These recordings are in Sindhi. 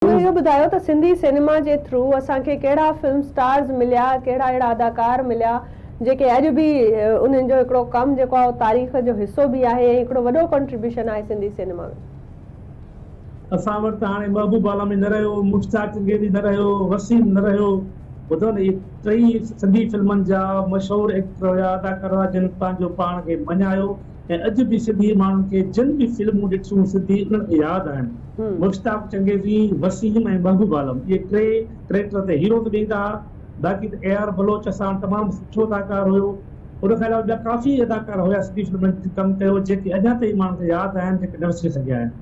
هن اهو ٻڌايو ته سنڌي سينيما جي ٿرو اسان کي ڪهڙا فلم اسٽارز مليا، ڪهڙا اهڙا اداڪار مليا جيڪي اڄ به انهن جو هڪڙو ڪم جيڪو آهي اهو تاريخ جو حصو به آهي ۽ هڪڙو وڏو ڪنٽريبيوشن آهي سنڌي سينيما ۾. اسان وٽ ته هاڻي محبوب عالمي نه رهيو، مشتاق چنگيزي نه رهيو، وسيم نه رهيو، ٻڌو نه هي ٽئي سنڌي فلمن جا مشهور ايڪٽر هيا، اداڪار هيا جن پنهنجو پاڻ کي مڃايو ۽ اڄ به سنڌي ماڻهن کي جن به فلمون ڏٺيون سنڌي انهن کي ياد آهن. مشتاق چنگيزي، وسيم ۽ محبوب عالم اهي ٽي ڪريڪٽر تي هيرو ته ڏيندا ها باقي ته اي آر بلوچ اسان تمام سٺو اداڪار هيو ان کان علاوه ٻيا ڪافي اداڪار هيا سنڌي فلمن تي ڪم ڪيو جيڪي اڃا تائين ماڻهن کي ياد آهن جيڪي نه وسري سگهيا آهن.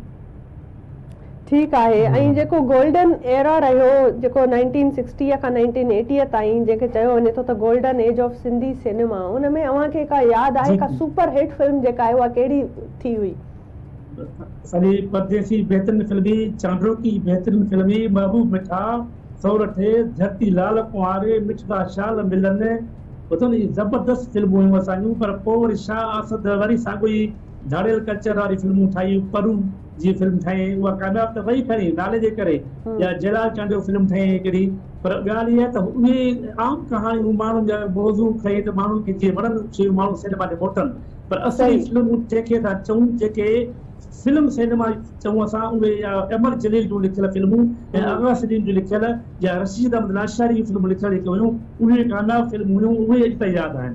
ٺيڪ آهي ۽ جيڪو گولڊن ايرا رهيو جيڪو نائنٽين سڪسٽيء کان نائنٽين ايٽيء تائين جنهن کي چيو وڃي ٿو ته golden age of Sindhi cinema ان ۾ اوهان کي ڪا ياد آهي ڪا سپر هٽ فلم جيڪا آهي اها ڪهڙي ٿي هئي. اسانجي پرديسي بهترين فلمي، چانڊوڪي بهترين فلمي، محبوب مٺا، سورٺي، ڌرتي لال ڪنواري، مٺڙا شال ملن ٻڌو نه اهي زبردست فلمون هيون اسانجون پر پوء وري شاهه آصد وري ساڳيو ئي ڌاڙيل ڪلچر واري فلمون ٺاهي پرون جي فلم ٺاهي اها ڪامياب ته وئي پهرين نالي جي ڪري يا جيلال چانڊيو فلم ٺاهي هي ڪهڙي پر ڳالهه اها ته اهي عام ڪهاڻيون ماڻهن جا موضوع کڻي ته ماڻهن کي جي وڻن سوئي ماڻهو سينيما ڏي موٽن پر اصلي فلمون جنهن کي اسان چئون جيڪي فلم سينيما چئون اسان اهي يا امر جليل جون لکيل فلمون ۽ اغا سليم جون لکيل يا رشيد احمد لاشاري جون فلمون لکيل جيڪي هيون اهي ڪامياب فلمون هيون اهي اڄ تائين ياد آهن.